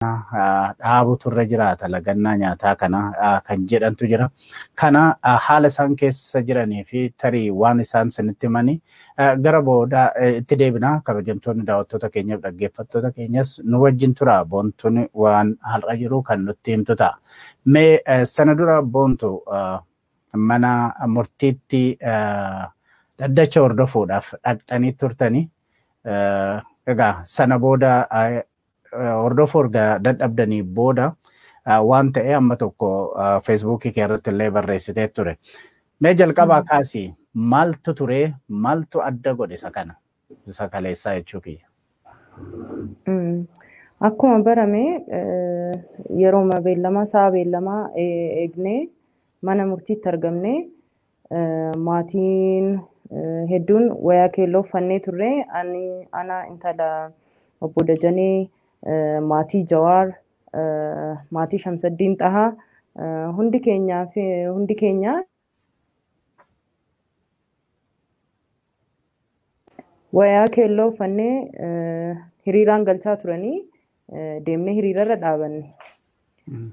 dhaabutu irra jiraata lagannaa nyaataa kana kan jedhantu jira. Kana haala isaan keessa jiranii fi tarii waan isaan sinitti himanii gara booda itti deebina kabajamtoonni daawwattoota keenyaaf dhaggeeffattoota keenyas nu wajjin tura boontuun waan har'a jiru kan nutti himtu ta'a. Mee sana dura boontu mana murtiitti dhaddacha hordofuudhaaf dhaqxanii turtanii egaa sana booda hordofu erga dadhabdanii booda waan ta'e amma tokko feesbuukii kee irratti illee barreessitee ture. Mee jalqabaa kaasi maaltu ture maaltu adda godhe isa kana isa kaleessaa jechuu kiyya. Akkuma barame yeroo beellamaa sa'a beellamaa eegnee mana murtiitti argamne Maatiin hedduun wayaa keelloo uffannee turre. Ani ana intala obbo Dajanee maatii Jawaar maatii Shamsaddiin Xahaa hundi keenya hundi keenya wayaa keelloo uffannee hiriiraan galchaa turanii deemnee hiriirarra dhaabanne.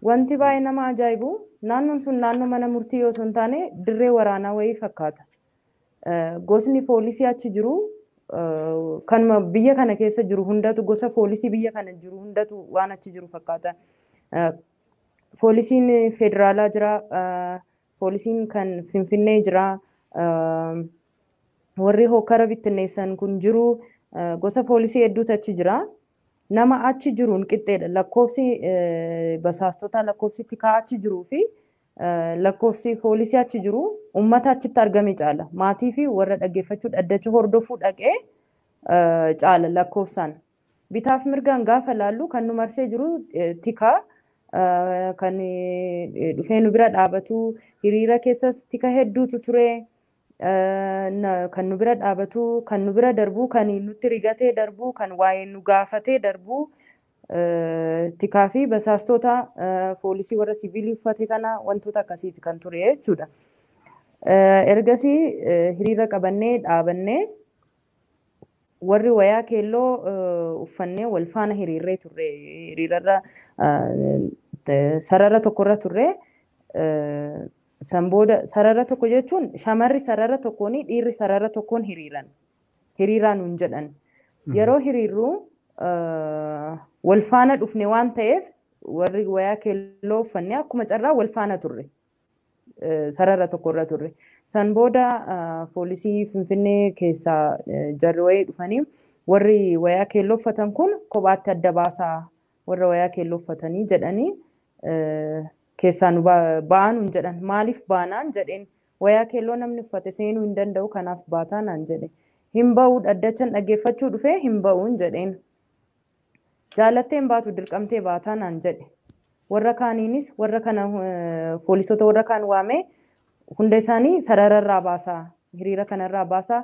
Wanti baay'ee nama ajaa'ibu naannoon sun naannoo mana murtii osoo hin taane dirree waraanaa wayii fakkaata. Gosni poolisii achi jiru kanuma biyya kana keessa jiru hundatu gosa poolisii biyya kana jiru hundatu waan achi jiru fakkaata. Poolisiin federaalaa jira, poolisiin kan Finfinnee jira, warri hokkara bittinneessan kun jiru, gosa poolisii hedduutu achi jira. Nama achi jiruun qixxeedha. Lakkoofsi basaastotaa, lakkoofsi tikaa achi jiruu fi lakkoofsi foolisii achi jiru ummata achitti argame caala. Maatii fi warra dhaggeeffachuu dhaddacha hordofuu dhaqee caala lakkoofsaan. Bitaaf mirgaan gaafa laallu kan nu marsee jiru tikaa kan dhufee nu bira dhaabatu hiriira keessas tika hedduutu ture. kan nu bira dhaabatu, kan nu bira darbu, kan nutti rigatee darbu, kan waa'ee nu gaafatee darbu tikaa fi basaastoota foolisii warra siviilii uffate kana wantoota akkasiiti kan ture jechuudha. Ergasii hiriira qabannee dhaabannee warri wayaa keelloo uffannee wal faana hiriirree turre hiriirarra sarara tokkorra turre San booda sarara tokko jechuun shamarri sarara tokkoon dhiirri sarara tokkoon hiriiran. Hiriiraa nuun jedhan. Yeroo hiriirru wal faana dhufne waan ta'eef warri wayaa keelloo uffanne akkuma carraa wal faana turre. Sarara tokkorra turre. San booda poolisii Finfinnee keessaa jarri wayii dhufanii warri wayaa keelloo uffatan kun kophaatti adda baasaa warra wayaa keelloo uffatanii jedhanii keessaa nu ba'aa nuun jedhan. Maaliif baanaan jedheen. Wayaa keelloo namni uffate seenuu hin danda'u kanaaf baataa naan jedhe. Hin ba'u dhaddachan dhaggeeffachuu dhufee hin ba'uun jedheen. Jaalattee hin baatu dirqamtee baataa naan jedhe. Warra kaaniinis warra kana poolisoota warra kaan waamee Hunda isaanii sarara irraa baasaa, hiriira kana irraa baasaa,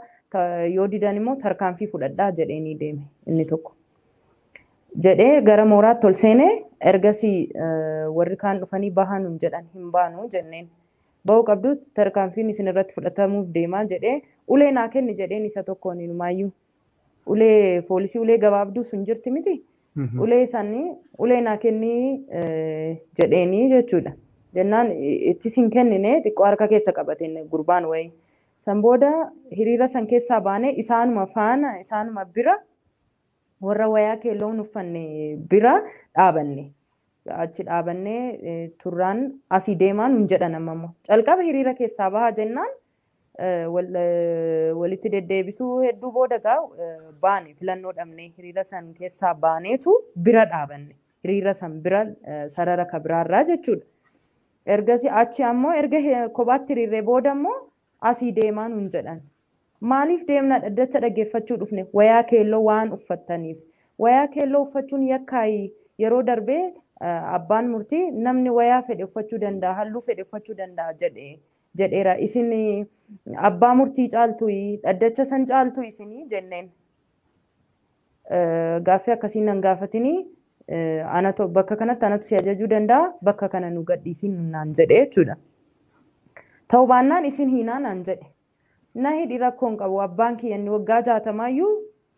yoo didan immoo tarkaanfii fudhadhaa jedheenii deeme inni tokko. Jedhee gara mooraatti ol seene ergasii warri kaan dhufanii bahaa nuun jedhan hin baanu jenneen. Ba'uu qabdu tarkaanfiin isin irratti fudhatamuuf deemaa jedhee ulee naa kenni jedheen isa tokkoon inumaayyuu ulee foolisii ulee gabaabduu sun jirti miti ulee sanii ulee naa kennii eh, jedheenii jechuudha jennaan i- ittis hin kennine xiqqoo harka keessa qabateen gurbaan wayii san booda hiriira san keessaa baanee isaanuma faana isaanuma bira warra wayaa keelloo hin uffanne bira dhaabanne achi dhaabannee eh, turraan asii deemaa nun jedhan ammammoo calqaba hiriira keessaa bahaa jennaan walitti deddeebisuu hedduu booda gaa baane filannoo dhabnee hiriira san keessaa baaneetu bira dhaabanne hiriira san bira sarara ka biraarraa jechuudha. Ergasi achi ammoo erga kophaatti hiriirree booda ammoo asii deemaa nuun jedhan. Maaliif deemna dhaddacha dhaggeeffachuu dhufne wayaa keelloo waan uffattaniif. Wayaa keelloo uffachuun yakkaayi yeroo darbee abbaan murtii namni wayaa fedhe uffachuu danda'a halluu fedhe uffachuu danda'a jedhe jedheera. Isin abbaa murtii caaltuyi, dhaddacha san caaltu isinii jenneen. Gaaffii akkasiin nan gaafatini anatu bakka kanatti anatu si ajajuu danda'a bakka kana nu gadhiisiin naan jedhe jechuudha. Ta'uu baannaan isin hiinaa naan jedhe. Na hidhi rakkoo hin qabu abbaan kiyya inni waggaa jaatamaayyuu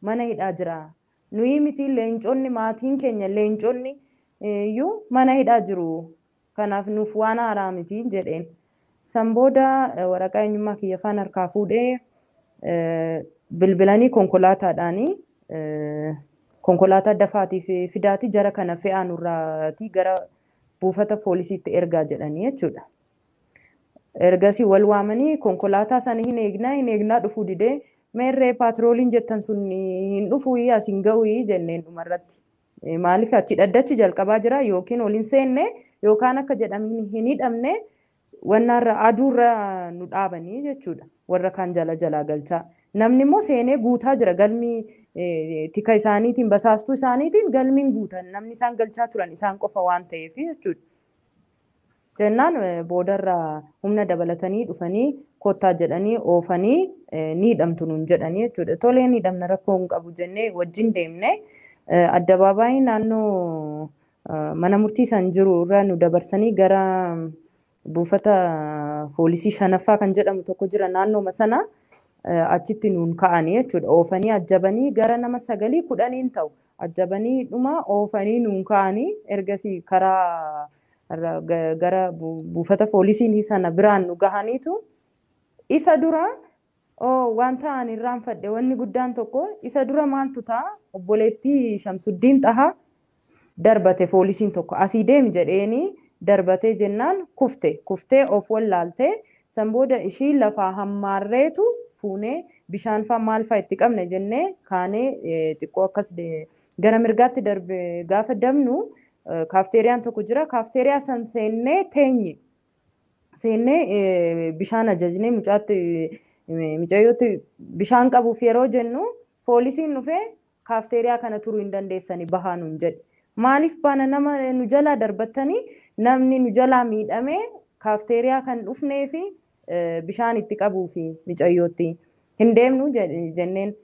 mana hidhaa jira. Nuyi miti leenconni maatiin keenya leenconni iyyuu mana hidhaa jiru. Kanaaf nuuf waan haaraa miti, jedheen. San booda waraqaa eenyummaa kiyya faan harkaa fuudhee bilbilanii konkolaataadhaan konkolaataa dafaatii fidaatii jara kana fe'aa nurraatii gara buufata poolisiitti ergaa jedhanii jechuudha. Ergasii wal waamanii konkolaataa sana hin eegnaa hin eegnaa dhufuu didee meerree paatirooliin jettan sun hin dhufuu asii hin ga'uu jenneen dhumarratti. Maaliif achi dhaddachi jalqabaa jira yookiin ol hin seenne yookaan akka jedhamin hin hidhamne wannaarra aduurra nu dhaabanii jechuudha warra kaan jala jalaa galchaa namni immoo seenee guutaa jira galmi tika isaaniitiin basaastuu isaaniitiin galmiin guutan namni isaan galchaa turan isaan qofa waan ta'eef jechuudha. Jennaan boodarra humna dabalatanii dhufanii kottaa jedhanii oofanii ni hidhamtu nuun jedhanii jechuudha. Tolee ni hidhamna rakkoo hin qabu jennee wajjin deemne. Addabaabaayii naannoo mana murtii san jiru irra nu dabarsanii gara buufata poolisii shanaffaa kan jedhamu tokko jira naannooma sana achitti nuun ka'anii jechuudha. Oofanii ajjabanii gara nama sagalii kudhaniin ta'u ajjabanii dhuma oofanii nuun ka'anii ergasii karaa irra ga- gara bu- buufata poolisiin sana biraan nu gahaniitu isa dura oo wanta ani irraanfadhe wanni guddaan tokko isa dura maaltu ta'a obboleettii Shamsuddiin Xahaa darbate poolisiin tokko asii deemi jedheeni darbatee jennaan kufte kuftee of wallaalte san booda ishii lafaa hammaarreetu fuunee bishaanfaa maalfaa itti qabne jennee kaanee eh, xiqqoo akkas de- Gara mirgaatti darbe gaafa dabnu kaafteeriyaan tokko jira. Kaafteeriyaa san seennee teenye. Seennee bishaan ajajnee mucaatti micayyootti bishaan qabuuf yeroo jennu poolisiin dhufee kaafteeriyaa kana turuu hin dandeessani bahaa nuun jedhe. Maaliif baana nama nu jalaa darbattanii namni nu jalaa miidhamee kaafteeriyaa kan dhufnee fi bishaan itti qabuu fi micayyootti hin deemnu jenneen.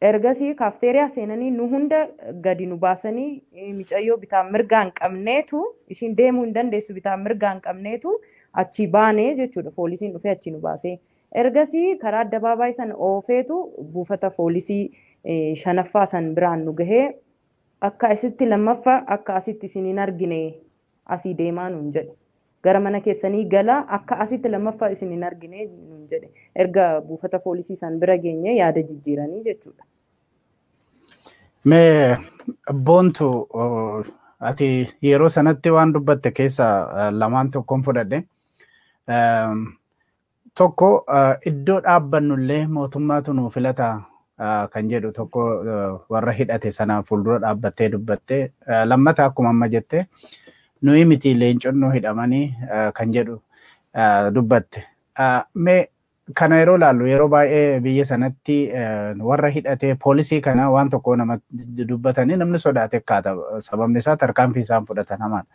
Ergasii kaafteeriyaa seenanii nu hunda gadi nu baasanii micayyoo bitaa mirgaan qabneetu ishiin deemuu hin dandeessu bitaa mirgaan qabneetu achii baanee jechuudha foolisiin dhufee achii nu baasee. Ergasii karaa addabaabaayii sana oofeetu buufata foolisii shanaffaa san biraan nu gahee akka asitti lammaffa akka asitti isin hin argine Asii deemaa nuun jedhe. Gara mana keessanii galaa akka asitti lammaffaa isin hin argine nuun jedhe. Erga buufata foolisii san bira geenye yaada jijjiiranii jechuudha. Mee boontu ati yeroo sanatti waan dubbatte keessa lamaan tokkoon fudhadhe. Tokko iddoo dhaabbannu illee mootummaatu nuu filata kan jedhu tokko warra hidhate sana fuuldura dhaabbattee dubbatte. Lammata akkuma amma jette nuyi miti leenconnoo hidhamanii kan jedhu dubbatte. Mee kana yeroo ilaallu yeroo baay'ee biyya sanatti warra hidhatee poolisii kana waan tokko nama dubbatanii namni sodaate kaata sababni isaa tarkaanfii isaan fudhatan hamaadha.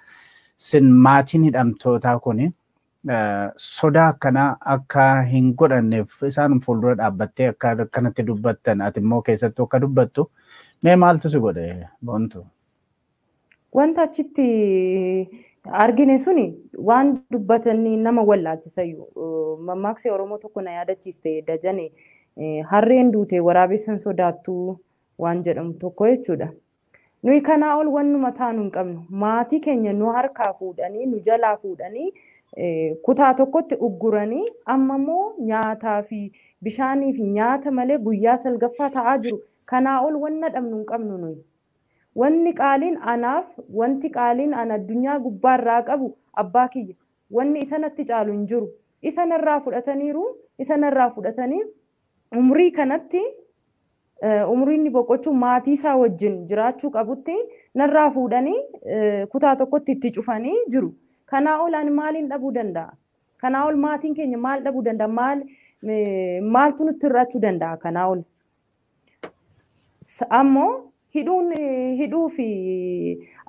Sin maatiin hidhamtootaa kun sodaa akkanaa akka hin godhanneef isaanum fuuldura dhaabbattee akka akkanatti dubbattan ati immoo keessattuu akka dubbattu mee maaltu si godhe boontu? Wanta achitti argine suni waan dubbatanii nama wallaalchisayyu. Mammaaksi Oromoo tokko na yaadachiiste dajane harreen duute waraabessan sodaattu waan jedhamu tokko jechuudha. Nuyi kanaa ol wannuma taanu hin qabnu. Maatii keenya nu harkaa fuudhanii, nu jalaa fuudhanii kutaa tokkotti ugguranii amma immoo nyaataa fi bishaanii fi nyaata malee guyyaa salgaffaa ta'aa jiru. Kanaa ol wanna dhabnu hin qabnu nuyi. Wanni qaaliin anaaf, wanti qaaliin ana addunyaa gubbaa irraa qabu abbaa kiyya. Wanni isa natti caalu hin jiru. Isa narraa fudhataniiru, isa narraa fudhatanii umrii kanatti Umrii inni boqochuu maatii isaa wajjin jiraachuu qabutti narraa fuudhanii kutaa tokkotti itti cufanii jiru. Kanaa ol ani maaliin dhabuu danda'a? Kanaa ol maatiin keenya maal dhabuu danda'a? Maal maaltu nutti hir'achuu danda'a kanaa ol? Ammoo hidhuun hidhuu fi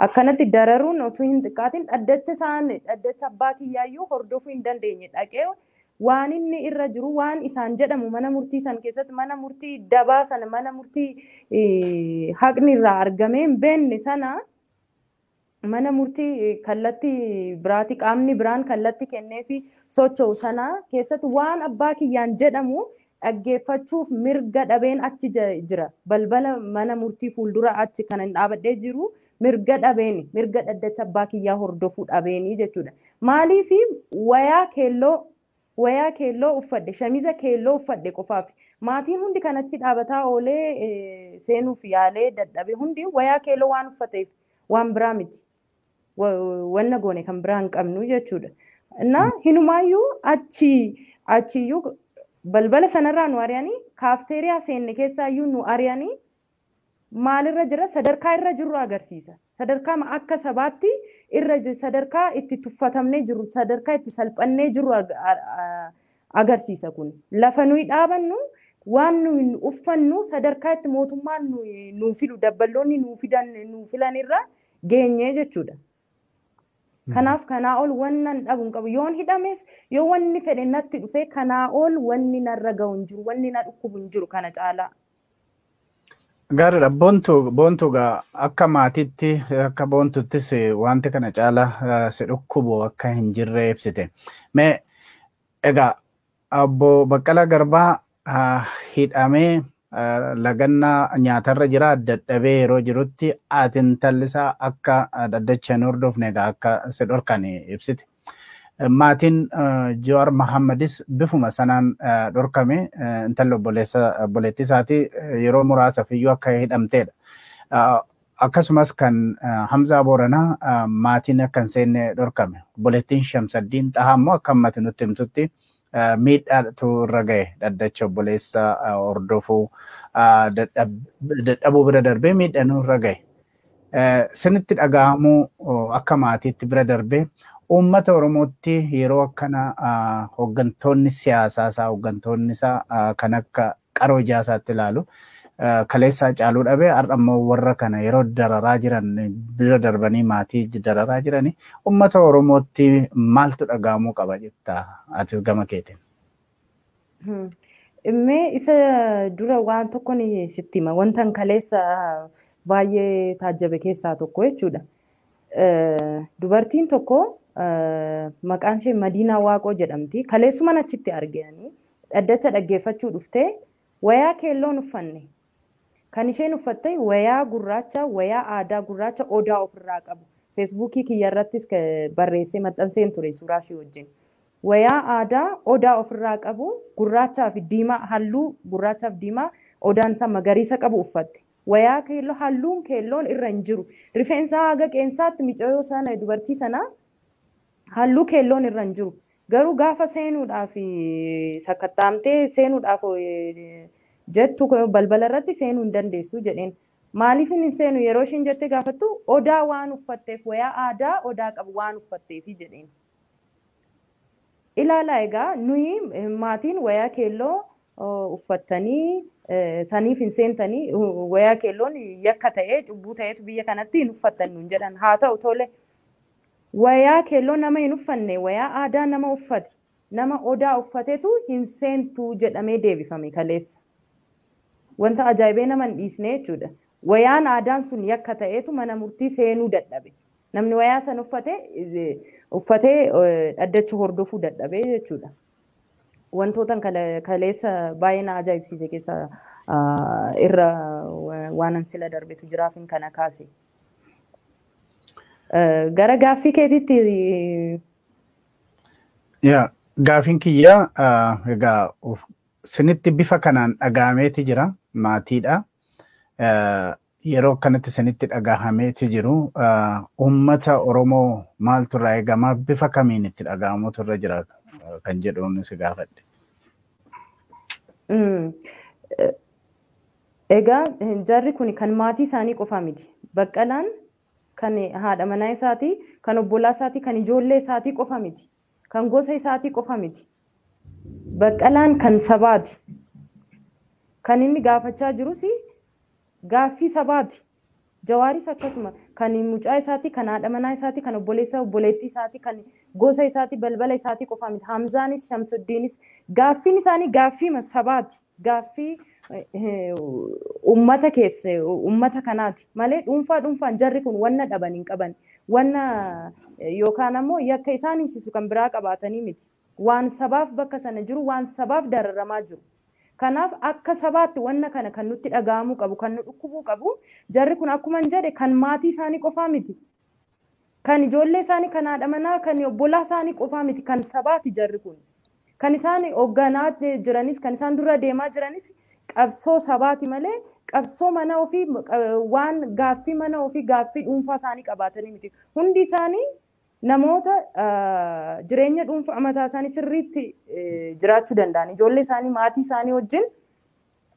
akkanatti dararuun otuu hin xiqqaatiin dhaddacha isaan dhaddacha abbaa kiyyaayyuu hordofuu hin dandeenye dhaqee Waan inni irra jiru waan isaan jedhamu mana murtii san keessatti mana murtii dabaa sana mana murtii haqni irraa argamee hin beekne sana mana murtii kallatti biraati qaamni biraan kallatti kennee fi socho'u sana keessatti waan abbaa kiyyaan jedhamu dhaggeeffachuuf mirga dhabeen achi jira. Balbala mana murtii fuuldura achi kan ani dhaabadhee jiru mirga dhabeeni. Mirga dhaddacha abbaa kiyyaa hordofuu dhabeeni jechuudha. Maaliif wayaa keelloo wayaa keelloo uffadhe shamiza keelloo uffadhe qofaaf maatiin hundi kan achi dhaabataa oolee seenuuf yaalee dadhabe hundi wayaa keelloo waan uffateef waan biraa miti. wanna goone kan biraa hin qabnu jechuudha. Innaa hinumaayyuu achi achiyyuu balbala sanarraa nu ari'anii kaafteeriyaa seenne keessaayyuu nu ari'anii maalirra jira sadarkaa irra jirru agarsiisa. Sadarkaa akka sabaatti irra sadarkaa itti tuffatamnee jirru sadarkaa itti salphannee jirru agarsiisa kun. Lafa nuyi dhaabannu waan nuyi uffannu sadarkaa itti mootummaan nuu filu dabballoonni nuu fidan nuu filanirra geenye jechuudha. Kanaaf kanaa ol wannan dhabu hin qabu. Yoon hidhames yoo wanni fedhe natti dhufee kanaa ol wanni narra ga'u hin jiru. Wanni na dhukkubu hin jiru kana caalaa. Gaariidha. Boontuu boontuu gaa akka maatiitti akka boontuttis wanti kana caalaa si dhukkubu akka hin jirre ibsite. Mee egaa Obbo Baqqalaa Garbaa hidhamee lagannaa nyaatarra jira dadhabee yeroo jirutti ati intalli isaa akka dhaddacha hin hordofne egaa akka si dhorkan ibsite. Maatiin Jawaar Mahammadis bifuma sanaan dhorkame intalli obboleessa obboleettii isaatii yeroo muraasaaf iyyuu akka hidhamteedha. Akkasumas kan Hamzaa Booranaa maatiin akka hin seenne dhorkame. Obboleettiin Shamsaddiin Xahaa immoo akka ammati nutti himtutti miidhaatu irra gahe dhaddacha obboleessa hordofuu dadhabuu bira darbee miidhanuu irra gahe. Sinitti dhagahamuu akka maatiitti bira darbee uummata Oromootti yeroo akkana hooggantoonni siyaasaa isaa hooggantoonni isaa kan akka qaroo ijaa isaatti ilaalu. Kaleessaa caaluu dhabe har'a immoo warra kana yeroo dararaa jiran bira darbanii maatii dararaa jirani uummata Oromootti maaltu dhaga'amuu qaba jetta atis gama keetiin. Mee isa dura waan tokko ni sitti hima. Wantan kaleessa baay'ee taajjabe keessaa tokko jechuudha. Dubartiin tokko maqaan ishee Madiinaa Waaqoo jedhamti. Kaleessuman achitti argeani. Dhaddacha dhaggeeffachuu dhuftee wayaa keelloo hin uffanne. Kan isheen uffatte wayaa gurraacha, wayaa aadaa gurraacha Odaa ofirraa qabu. Feesbuukii kiyyarrattis barreessee maxxanseen ture suuraa ishee wajjin. Wayaa aadaa Odaa ofirraa qabu gurraachaa fi diimaa halluu gurraachaa fi diimaa Odaan isaa magariisa qabu uffatte. Wayaa keelloo halluun keelloon irra hin jiru. Rifeensa haga qeensaatti micayoo sana dubartii sanaa halluu keelloon irra hin jiru. Garuu gaafa seenuudhaaf sakatta'amtee seenuudhaaf jettu balbala irratti seenuu hin dandeessu jedheen. Maaliifin hin seenu yeroo ishiin jettee gaafattu odaa waan uffatteef wayaa aadaa odaa qabu waan uffatteefi jedheen. Ilaalaa egaa nuyi maatiin wayaa keelloo uffattanii saniif hin seentanii wayaa keelloon yakka ta'ee cubbuu ta'eetu biyya kanatti hin uffattan nuun jedhan haa ta'u tole Wayaa keelloo nama hin uffanne wayaa aadaa nama uffate nama odaa uffatetu hin seentu jedhamee deebifame kaleessa. Wanta ajaa'ibee nama hin dhiisne jechuudha. Wayaan aadaan sun yakka ta'eetu mana murtii seenuu dadhabe. Namni wayaa san uffate uffatee dhaddacha hordofuu dadhabee jechuudha. Wantootan kaleessa baay'ee na ajaa'ibsiise keessa irra waanan sila darbetu jiraafin kana kaase. Gara gaaffii keetiitti Yaa gaafiin kiyyaa ah, egaa of- sinitti bifa kanaan dhaga'ameeti jira maatiidha. Eh, Yeroo akkanatti sinitti dhaga'ameeti jiru ah, uummata Oromoo maaltu irraa eegama bifa kamiin itti dhaga'amutu irra jira eh, kan jedhuun si gaafadhe. Mm. Eh, Egaa jarri kuni kan maatii isaanii qofaa miti. Baqqalaan kan haadha manaa isaatii, kan obbolaa isaatii, kan ijoollee isaatii qofa miti. Kan gosa isaatii qofa miti. Baqqalaan kan sabaati. Kan inni gaafachaa jirus gaaffii sabaati. Jawaaris akkasuma. Kan mucaa isaatii, kan haadha manaa isaatii, kan obboleessa obboleettii isaatii, kan gosa isaatii, balbala isaatii qofaa miti. Hamzaanis, Shamsuddiinis. Gaaffiin isaanii gaaffiima sabaati. Gaaffii ummata keessa, ummata kanaati. Malee dhuunfaa dhuunfaan jarri kun wanna dhaban hin qaban. Wanna yookaan ammoo yakka isaan hiisisu kan biraa qabaatanii miti. Waan sabaaf bakka sana jiru, waan sabaaf dararamaa jiru. Kanaaf akka sabaatti wanna kana kan nutti dhaga'amuu qabu, kan nu dhukkubuu qabu, jarri kun akkuman jedhe kan maatii isaanii qofaa miti. Kan ijoollee isaanii, kan haadha manaa, kan obbolaa isaanii qofaa miti, kan sabaati jarri kun. Kan isaan hogganaa jiranis, kan isaan dura deemaa jiranis qabsoo sabaati malee qabsoo mana ofii waan gaaffii mana ofii gaaffii dhuunfaa isaanii qabaatanii miti. Hundi isaanii Namoota jireenya dhuunfaa mataa isaanii sirriitti jiraachuu danda'an, ijoollee isaanii, maatii isaanii wajjin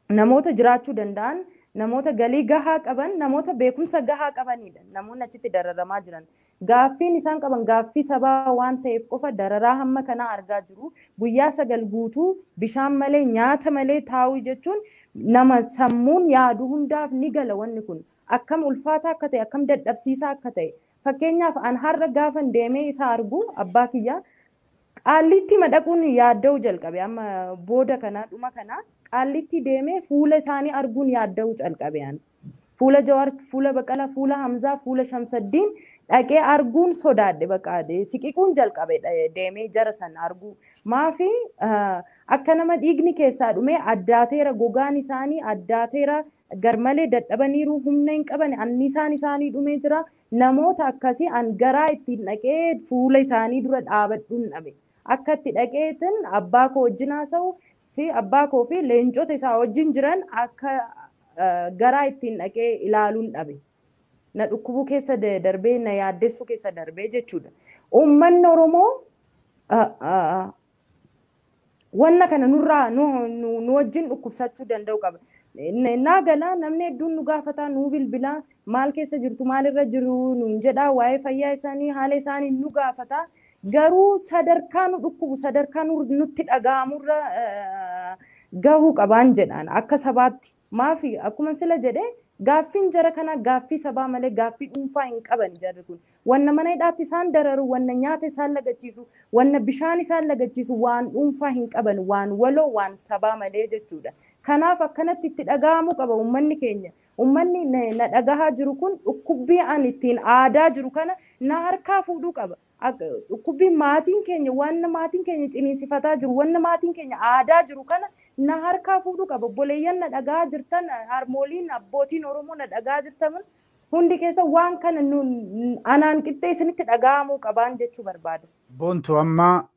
namoota jiraachuu danda'an, namoota galii gahaa qaban, namoota beekumsa gahaa qabaniidha namoonni achitti dararamaa jiran. Gaaffiin isaan qaban gaaffii sabaa waan ta'eef qofa dararaa hamma kanaa argaa jiru. Guyyaa sagal guutuu bishaan malee, nyaata malee taa'uu jechuun nama sammuun yaadu hundaaf ni gala wanni kun. Akkam ulfaataa akka ta'e, akkam dadhabsiisaa akka ta'e, Fakkeenyaaf an har'a gaafan deemee isa argu abbaa kiyya qaalliittiima dhaquun yaadda'uu calqabe amma booda kana dhuma kana qaalliittii deemee fuula isaanii arguun yaadda'uu calqabe an fuula jawaar fuula baqala fuula hamzaa fuula shamsaddiin dhaqee arguun sodaadhe baqa siqiquun jalqabe deemee jara san arguu maafi akka nama dhiigni keessaa dhumee addaateera gogaan isaanii addaateera garmalee dadhabaniiru, humna hin qabani, annisaan isaanii dhumee jira. Namoota akkasii an garaa ittiin dhaqee fuula isaanii dura dhaabadhun dhabe. Akka itti dhaqeetin abbaa koo wajjin haasa'u fi abbaa koo fi leencota isaa wajjin jiran akka garaa ittiin dhaqee ilaalun dhabe. Na dhukkubuu keessa darbee, na yaaddessuu keessa darbee jechuudha. Uummanni Oromoo wanna kana nurraa nu, nu, nu wajjin dhukkubsachuu danda'u qaba. N- Naa galaa namni hedduun nu gaafataa nuu bilbilaa maal keessa jirtu maalirra jiru nuun jedhaa waa'ee fayyaa isaanii haala isaanii nu gaafataa garuu sadarkaa nu dhukkubu sadarkaa nu- nutti dhaga'amurra eh, gahuu qabaan jedhaan akka sabaatti. Maafi? Akkuma sila jedhe gaaffiin jara kanaa gaaffii sabaa malee gaaffii dhuunfaa hin qabani jarri kun. Wanna mana hidhaatti isaan dararu, wanna nyaata isaan lagachiisu, wanna bishaan isaan lagachiisu waan dhuunfaa hin qaban waan waloo waan sabaa malee jechuudha. Kanaaf akkanatti itti dhaga'amuu qaba ummanni keenya. Ummanni na dhagahaa jiru kun dhukkubbii ani ittiin aadaa jiru kana na harkaa fuudhuu qaba. Dhukkubbiin maatiin keenya wanna maatiin keenya ciniinsifataa jiru, wanna maatiin keenya aadaa jiru kana na harkaa fuudhuu qaba. Obboleeyyan na dhaga'aa jirtan, harmooliin, abbootiin Oromoo na dhaga'aa jirtan hundi keessa waan kana anaan qixxee isinitti dhaga'amuu qabaan jechuu barbaada. Boontuu amma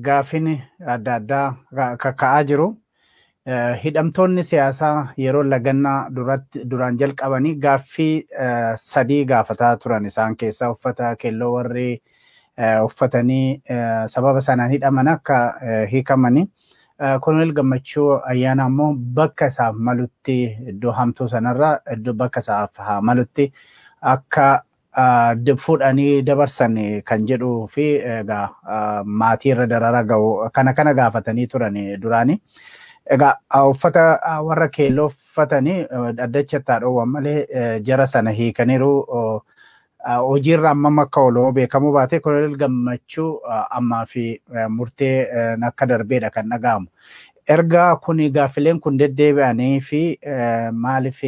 gaaffiin adda addaa kakka'aa jiru. Hidhamtoonni siyaasaa yeroo lagannaa duratti duraan jalqabanii gaaffii sadii gaafataa turan isaan keessaa uffata keelloo warri uffatanii sababa sanaan hidhaman akka hiikamanii koloneel gammachuu ayyaana ammoo bakka isaaf malutti iddoo hamtuu sanarra iddoo bakka isaaf haa malutti akka fudhanii dabarsan kan jedhuu fi egaa maatii irra darara ga'u kana kana gaafatanii turan duraanii. Egaa uffata warra keelloo uffatanii dhaddacha itti haadhoowwan malee jara sana hiikaniiru. Hojiirra ammam akka oolu beekamuu baatee koloneel gammachuu ammaa fi murtee akka darbeedha kan dhaga'amu. Erga kun gaaffileen kun deddeebi'anii fi maaliif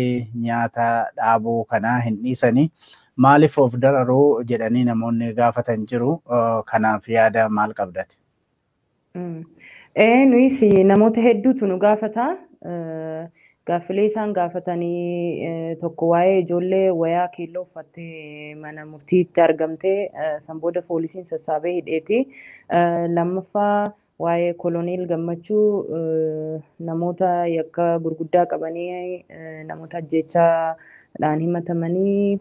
nyaata dhaabuu kanaa hin dhiisanii maaliif of dararuu jedhanii namoonni gaafatan jiru kanaaf yaada maal qabdati? Ee nuyis namoota hedduutu nu gaafata. Gaaffilee isaan gaafatanii tokko waa'ee ijoollee wayaa keelloo uffattee mana murtiitti argamtee san booda poolisiin sassaabee hidheeti. Lammaffaa Waa'ee Koloneel Gammachuu namoota yakka gurguddaa qabanii namoota ajjeechaadhaan himatamanii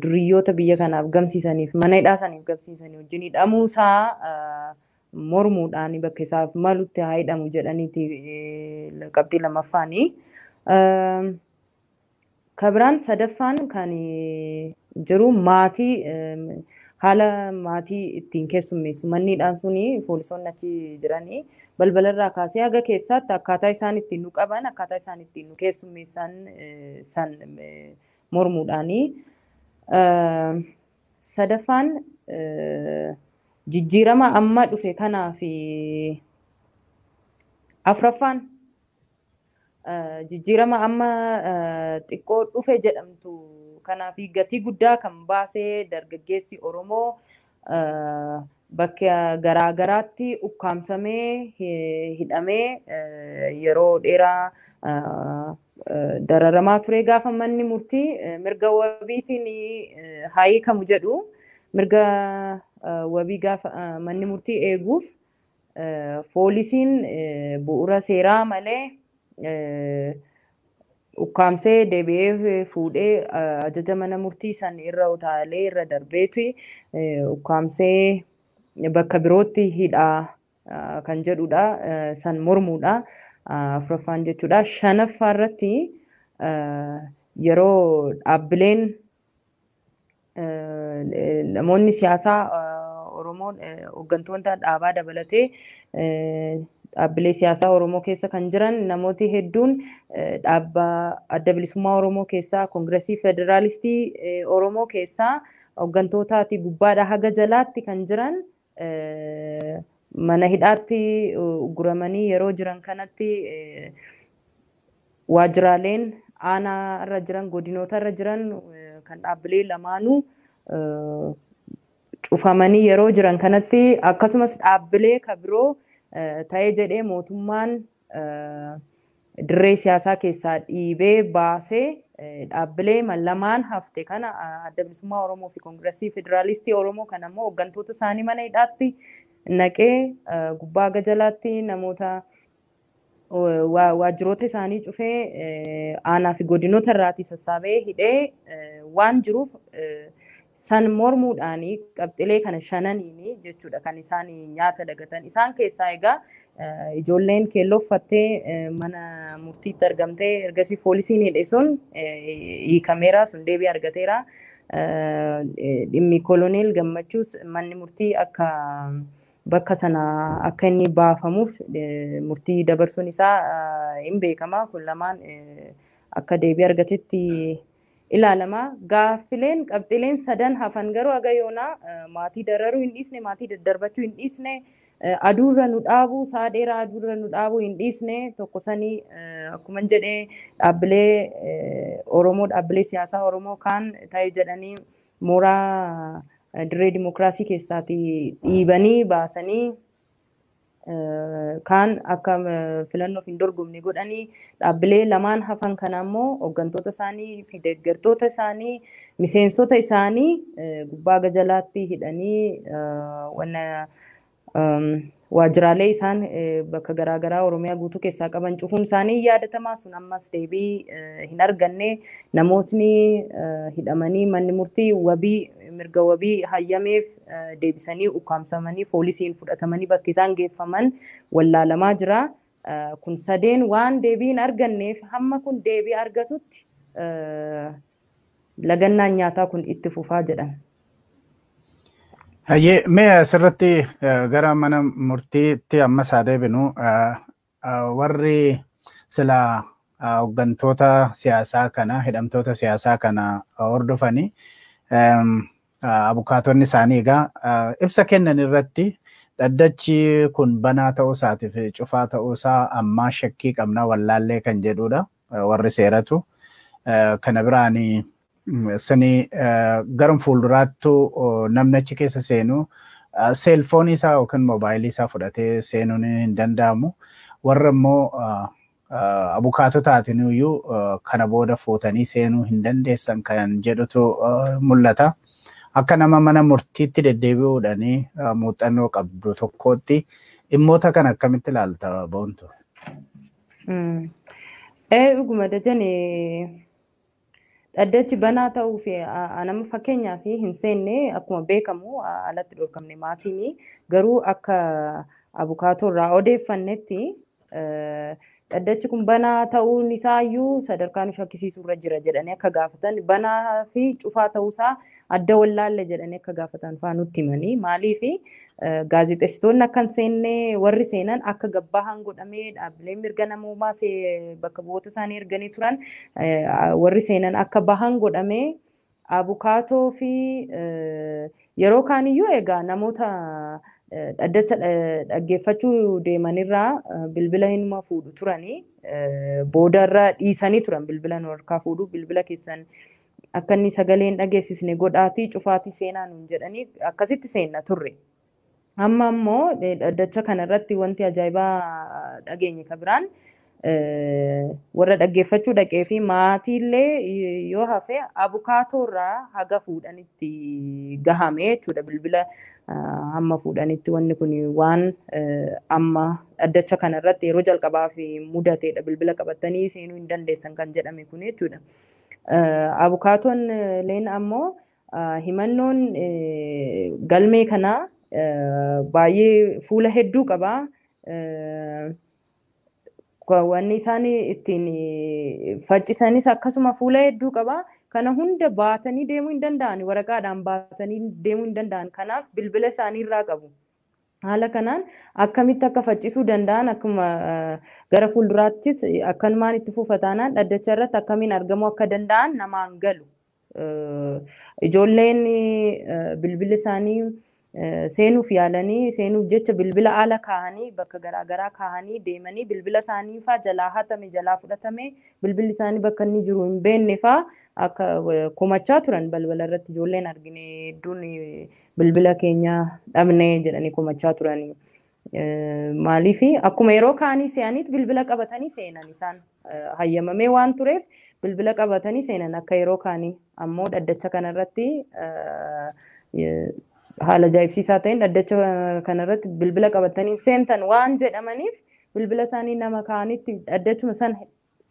duriyyoota biyya kanaaf gamsiisaniif mana hidhaa saniif gamsiisanii wajjin hidhamuu isaa mormuudhaan bakka isaaf malutti haa hidhamu jedhaniiti qabxii lammaffaanii. Ka biraan sadaffaan kan jiru maatii haala maatii ittiin keessummeessu manniidhaan suni poolisoonni achi jiranii balbalarraa kaasee haga keessaatti akkaataa isaan ittiin nu qaban akkaataa isaan ittiin nu keessummeessan san mormuudhaanii. Sadaffaan jijjiirama amma dhufe kanaa fi afraffaan Jijjiirama amma xiqqoo dhufe jedhamtu kanaa fi gatii guddaa kan baasee dargaggeessi Oromoo bakka garaa garaatti ukkaamsamee hidhamee yeroo dheeraa dararamaa turee gaafa manni murtii mirga wabiitiin haa hiikamu jedhu mirga wabii gaafa manni murtii eeguuf Foolisiin bu'ura seeraa malee ukkaamsee deebi'ee fuudhee ajaja mana murtii san irra utaalee irra darbeeti ukkaamsee bakka birootti hidhaa kan jedhudha. San mormuudha. Afuraffaan jechuudha. Shanaffaa irratti yeroo dhaabbileen Namoonni siyaasaa Oromoo hooggantoota dhaabaa dabalatee dhaabbilee siyaasaa Oromoo keessa kan jiran namooti hedduun dhaabba adda bilisummaa Oromoo keessaa Koongiresii Federaalistii Oromoo keessaa hooggantootaatii gubbaadhaa haga jalaatti kan jiran Mana hidhaatti ugguramanii yeroo jiran kanatti waajjiraaleen aanaa irra jiran godinoota irra jiran kan dhaabbilee lamaanuu cufamanii yeroo jiran kanatti akkasumas dhaabbilee ka biroo ta'ee jedhee mootummaan dirree siyaasaa keessaa dhiibee baasee dhaabbilee lamaan hafte kana adda bilisummaa Oromoo fi Koongirasii Federaalistii Oromoo kana immoo hooggantoota isaanii mana hidhaatti naqee gubbaa gajalaatti namoota waajjiroota isaanii cufee aanaa fi godinoota irraatii sassaabee hidhee waan jiruuf San mormuudhaan qabxilee kana shananiin jechuudha kan isaan nyaata dagatan. Isaan keessaa egaa ijoolleen keelloo uffattee mana murtiitti argamtee ergasii poolisiin hidhe sun hiikameera, sun deebii argateera. Dhimmi koloneel gammachuus manni murtii akka bakka sana akka inni baafamuuf murtii dabarsuun isaa hin beekama. Kun lamaan akka deebii argatetti ilaalama. Gaaffileen, qabxiileen sadan hafan garuu haga yoonaa maatii dararuu hin dhiisne, maatii daddarbachuu hin dhiisne, aduu irra nu dhaabuu, sa'a dheeraa aduu irra nu dhaabuu hin dhiisne, tokko sani akkuman jedhe dhaabbilee Oromoo, dhaabbilee siyaasaa Oromoo kaan ta'e jedhanii mooraa dirree dimokiraasii keessaatii dhiibanii baasanii, kaan akka filannoof hin dorgomne godhanii dhaabbilee lamaan hafan kana ammoo hooggantoota isaanii fi deeggartoota isaanii miseensota isaanii gubbaa gajalaatti hidhanii wanna waajjiraalee isaan bakka garaagaraa Oromiyaa guutuu keessaa qaban cufuun isaanii hin yaadatamaa sun ammas deebii hin arganne namootni hidhamanii manni murtii wabii mirga wabii hayyameef deebisanii ukkaamsamanii foolisiin fudhatamanii bakki isaan geeffaman wallaalamaa jira. Kun sadeen waan deebii hin arganneef hamma kun deebii argatutti lagannaan nyaataa kun itti fufaa jedhan. Hayyee mee asirratti gara mana murtiitti ammas haa deebinu. Warri sila hoggantoota siyaasaa kana hidhamtoota siyaasaa kana hordofani abukaatonni isaanii egaa ibsa kennan irratti dhaddachi kun banaa ta'uu isaatiif cufaa ta'uu isaa ammaa shakkii qabna wallaallee kan jedhudha. warri seeratu. Kana biraan sani garum fuulduraattu namni achi keessa seenu seelfoonii isaa yookiin moobaayilii isaa fudhatee seenuun hin danda'amu. Warra immoo abukaatotaatiin iyyuu kana booda fuutanii seenuu hin dandeessan kan jedhutu mul'ata. Akka nama mana murtiitti deddeebi'uudhaan muuxannoo qabdu tokkootti dhimmoota kana akkamitti ilaalta boontu? Ee dhuguma dajane dhaddachi banaa ta'uu fi nama fakkeenyaa fi hin seenne akkuma beekamu alatti dhorkamne maatiin garuu akka abukaatoo irraa odeeffannetti dhaddachi kun banaa ta'uun isaayyuu sadarkaa nu shakkisiisu irra jira jedhanii akka gaafatan banaa fi cufaa ta'uusaa adda wallaalle jedhanii akka gaafatan fa'aa nutti himanii maaliif gaazexessitoonni akka hin seenne warri seenan akka gabbaahan godhamee dhaabbileen mirga namoomaa bakka bu'oota isaanii erganii turan warri seenan akka bahan godhamee abukaatoo fi yeroo kaaniyyuu egaa namoota dhaddacha dhaggeeffachuu deemanirraa bilbila hinuma fuudhu turanii boodarra dhiisanii turan bilbila nu harkaa fuudhu bilbila keessan Akka inni sagalee hin dhageessisne godhaatii cufaatii seenaa nuun jedhanii akkasitti seenna turre. Amma ammoo dhaddacha kana irratti wanti ajaa'ibaa dhageenye ka biraan warra dhaggeeffachuu dhaqee fi maatiillee yoo hafe abukaatoo irraa haga fuudhanitti gahame jechuudha bilbila hamma fuudhanitti wanni kun waan amma dhaddacha kana irratti yeroo jalqabaaf mudateedha bilbila qabattanii seenuu hin dandeessan kan jedhame kun jechuudha. Abukaatoon Leen ammoo himannoon galmee kanaa baay'ee fuula hedduu qaba. Wanni isaan ittiin faccisanis akkasuma fuula hedduu qaba. Kana hunda baatanii deemuu hin danda'an waraqaadhaan baatanii deemuu hin danda'an. Kanaaf bilbila isaanii irraa qabu. Haala kanaan akkamitti akka faccisuu danda'an akkuma gara fuulduraattis akkanumaan itti fufa taanaan dhaddacha irratti akkamiin argamuu akka danda'an namaan galu. Ijoolleen bilbila isaanii seenuuf yaalanii seenuuf jecha bilbila ala kaahanii bakka garaagaraa kaahanii deemanii bilbila isaanii faa jalaa hatame jalaa fudhatame bilbilli isaanii bakka inni jiru hin beekne faa akka komachaa turan balbala irratti ijoolleen argine hedduun bilbila keenya dhabne jedhanii komachaa turanii. Maaliif akkuma yeroo kaanii se'aniit bilbila qabatanii seenan isaan hayyamamee waan tureef bilbila qabatanii seenan akka yeroo kaanii ammoo dhaddacha kanarratti haala ajaa'ibsiisaa ta'een dhaddacha kanarratti bilbila qabatanii seentan waan jedhamaniif bilbila isaanii nama kaanitti dhaddachuma san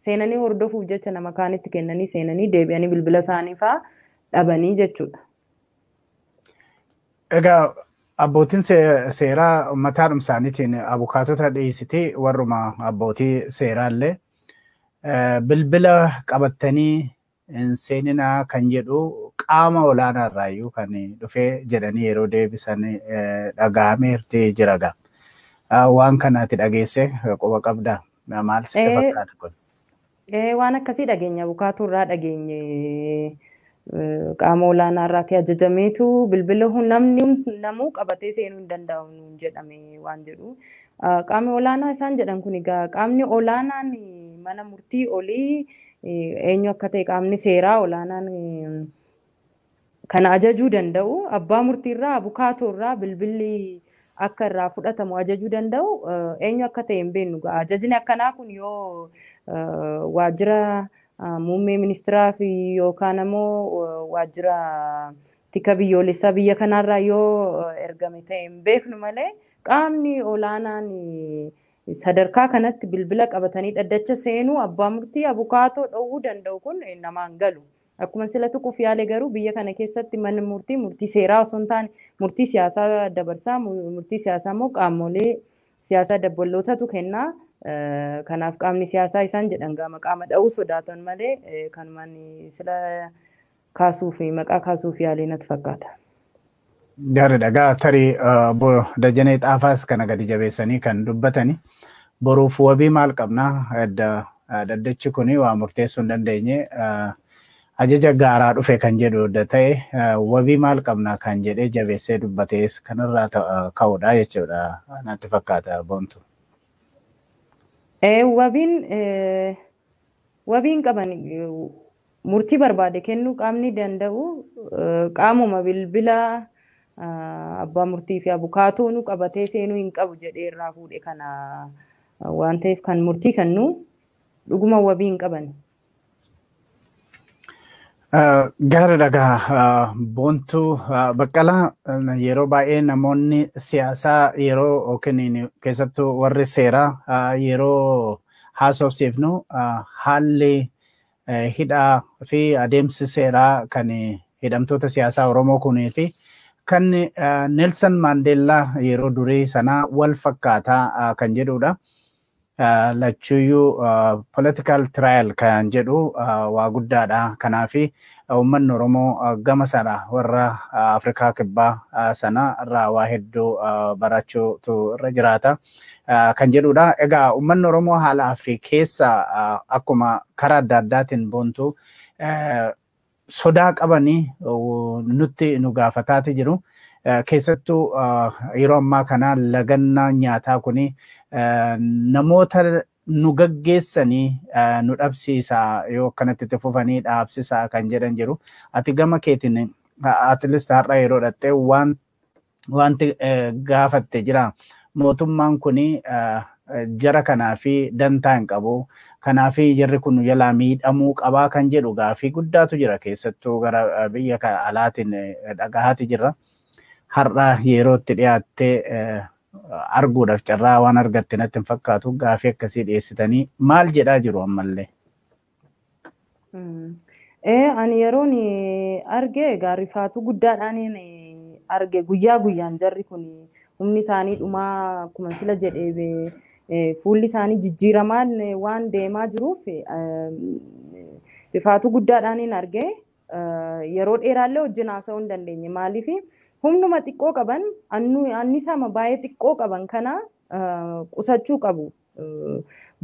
seenanii hordofuuf jecha nama kaanitti kennanii seenanii deebi'anii bilbila isaanii faa dhabanii jechuudha. Egaa abbootiin see- seeraa mataadhuma isaaniitiin abukaatota dhiyeessitee warruma abbootii seeraallee eh, bilbila qabattanii hin seeninaa kan jedhu qaama olaanaa irraayyuu kan dhufee jedhanii yeroo deebisan dhaga'ameerti jira gaa. Waan kana ati dhageesse quba qabda maal sitti fakkaata kun? Waan akkasii dhageenya bukaatuu irraa dhageenye qaama olaanaa irraati ajajameetu bilbila namni namuu qabatee seenuu hin danda'u nuun jedhame waan jedhu. Qaamni olaanaa isaan jedhan kun egaa qaamni olaanaan mana murtii olii eenyu akka ta'e qaamni seeraa olaanaan kana ajajuu danda'u abbaa murtiirraa abukaatoo irraa bilbilli akka irraa fudhatamu ajajuu danda'u eenyu akka ta'e hin beeknu ga'a. Ajajni akkanaa kun yoo waajjira muummee ministiraa fi yookaan ammoo waajjira tika biyyoolessaa biyya kanaarraa yoo ergame ta'e hin beeknu malee qaamni olaanaan Sadarkaa kanatti bilbila qabatanii dhaddacha seenuu abbaa murtii abukaatoo dhowwuu danda'u kun namaan galu. Akkuman sila tuquuf yaale garuu biyya kana keessatti manni murtii murtii seeraa osoo hin taane murtii siyaasaa dabarsa. Murtii siyaasaa immoo qaamolee siyaasaa dabballootatu kenna. Kanaaf qaamni siyaasaa isaan jedhan gaama qaama dha'uu sodaatan malee kanumaan sila kaasuuf maqaa kaasuuf yaalee natti fakkaata. Gaariidha. Egaa tarii obbo Dajanee Xaafaas kana gadi jabeessanii kan dubbatani. Boruuf wabii maal qabna? Dhaddachi kun waa murteessuu hin dandeenye ajaja gaaraa dhufe kan jedhu adda ta'e wabii maal qabna kan jedhee jabeessee dubbatees kanarraa ka'uudha jechuudha natti fakkaata boontu. Wabiin Wabiin qaban murtii barbaade kennuu qaamni danda'u qaamuma bilbila abbaa murtii fi abukaatoonu qabatee seenuu hin qabu jedhee irraa fuudhe kana waan ta'eef kan murtii kennu dhuguma wabii hin qaban. Gaariidha egaa Boontuu Baqqalaa yeroo baay'ee namoonni siyaasaa yeroo yookiin keessattuu warri seeraa yeroo haasofsiifnu haalli hidhaa fi adeemsi seeraa kan hidhamtoota siyaasaa Oromoo kunii fi kan Nelson Maandeellaa yeroo durii sanaa wal fakkaataa kan jedhudha. lachuuyyuu political trial kan jedhu waa guddaadha. Kanaaf uummanni Oromoo gama sana warra Afrikaa Kibbaa sana irraa waa hedduu barachuutu irra jiraata kan jedhudha. Egaa uummanni Oromoo haalaa fi keessa akkuma karaa adda addaatiin boontu sodaa qabanii nutti nu gaafataati jiru. Keessattuu yeroo ammaa kana lagannaa nyaataa kun namoota nu gaggeessanii nu dhabsiisa yoo akkanatti itti fufanii dhaabsisaa kan jedhan jiru. Ati gama keetiin at least har'a yeroo dhattee waan wanti gaafatte jira. Mootummaan kun jara kanaa fi dantaa hin qabu. Kanaaf jarri kun jalaa miidhamuu qabaa kan jedhu gaafii guddaatu jira keessattuu gara biyya alaatiin dhagahaati jirra. Har'a yeroo itti dhiyaattee arguudhaaf carraa waan argatte natti hin fakkaatu gaafii akkasii dhiyeessitanii maal jedhaa jiru ammallee? Ee ani yeroon arge egaa rifaatuu guddaadhaaniin arge guyyaa guyyaan jarri kun humni isaanii dhumaa akkuma sila jedhe fuulli isaanii jijjiiramaan waan deemaa jiruuf rifaatuu guddaadhaaniin arge yeroo dheeraallee wajjin haasa'uu hin dandeenye maaliif humnuma xiqqoo qaban annisaama baay'ee xiqqoo qaban kana qusachuu qabu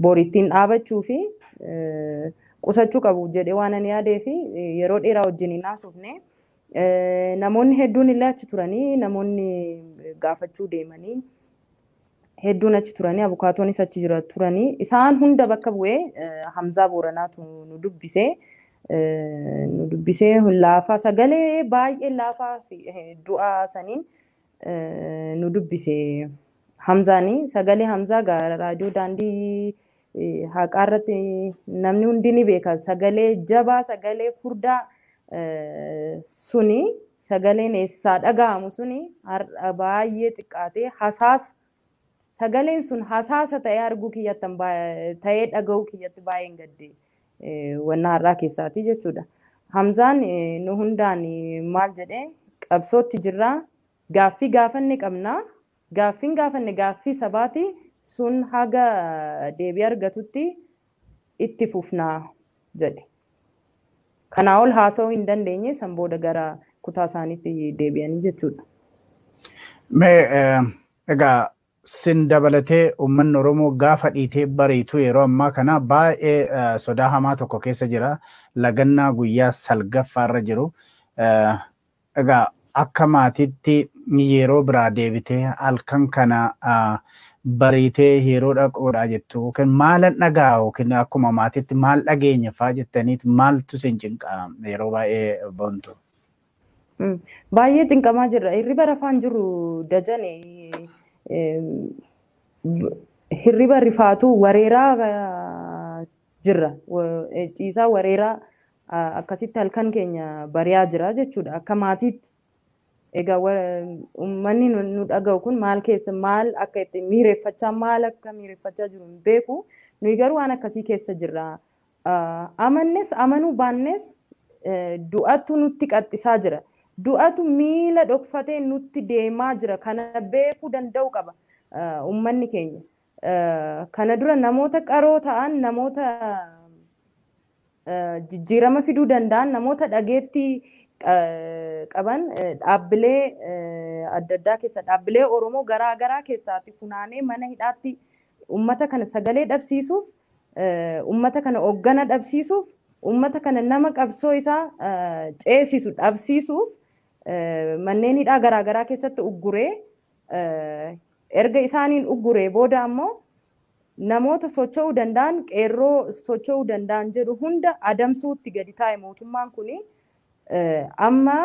bor ittiin dhaabachuu fi qusachuu qabu jedhee waan ani yaadee fi yeroo dheeraa wajjin hin haasofne namoonni hedduun illee achi turanii namoonni gaafachuu deemanii hedduun achi turanii abukaatoonis achi jira turanii isaan hunda bakka bu'ee Hamzaa Booranaatu nu dubbisee nu dubbisee laafaa sagalee baay'ee laafaa fi du'aa saniin nu dubbise Hamzaani sagalee Hamzaa gaa raadiyoo daandii eh, haqaa irratti namni hundi ni beeka sagalee jabaa sagalee furdaa eh, suni sagaleen eessaa dhaga'amu suni har'a baay'ee xiqqaatee hasaas Sagaleen sun hasaasa ta'ee arguu kiyyattan ta'ee dhaga'uu kiyyatti baay'een gadde wanna har'aa keessaatii jechuudha. Hamzaan nu hundaan maal jedhee qabsootti jirraa gaaffii gaafanne qabna gaaffiin gaafanne gaaffii sabaati sun haga deebii argatutti itti fufna jedhe. Kanaa ol haasa'uu hin dandeenye san booda gara kutaa isaaniitti deebi'anii jechuudha. Mee egaa sin dabalatee uummanni Oromoo gaafa dhiitee bariitu yeroo ammaa kana baay'ee sodaa hamaa tokko keessa jira. Lagannaa guyyaa salgaffaarra jiru. Egaa akka maatiitti yeroo biraa deebitee halkan kana bariitee yeroo dhaqoodhaa jettu yookiin maalan dhaga'a yookiin akkuma maatiitti maal dhageenya faa jettaniit maaltu isin cinqa yeroo baay'ee boontu? Baay'ee cinqamaa jirra. Hirriba rafaan jiru dajane hirriba rifaatu wareeraa jirra. Ciisaa wareeraa akkasitti halkan keenya bari'aa jira jechuudha. Akka maatiitti egaa uummanni nu dhaga'u kun maal keessa maal akka itti miireffachaa maal akka miireffachaa jiru hin beeku. Nuyi garuu waan akkasii keessa jirra. Amannes amanuu baannes du'atu nutti qaxxisaa jira. Du'atu miila dhokfatee nutti deemaa jira. Kana beekuu danda'u qaba uummanni keenya. Kana dura namoota qaroo ta'an, namoota jijjiirama fiduu danda'an, namoota dhageettii qaban dhaabbilee adda addaa keessa dhaabbilee Oromoo garaa garaa keessaati funaanee mana hidhaatti ummata kana sagalee dhabsiisuuf ummata kana hoggana dhabsiisuuf ummata kana nama qabsoo isaa ceesisu dhabsiisuuf manneen hidhaa garaa garaa keessatti ugguree Erga isaaniin ugguree booda ammoo namoota socho'uu danda'an, qeerroo socho'uu danda'an jedhu hunda adamsuutti gadi taa'e mootummaan kuni. Amma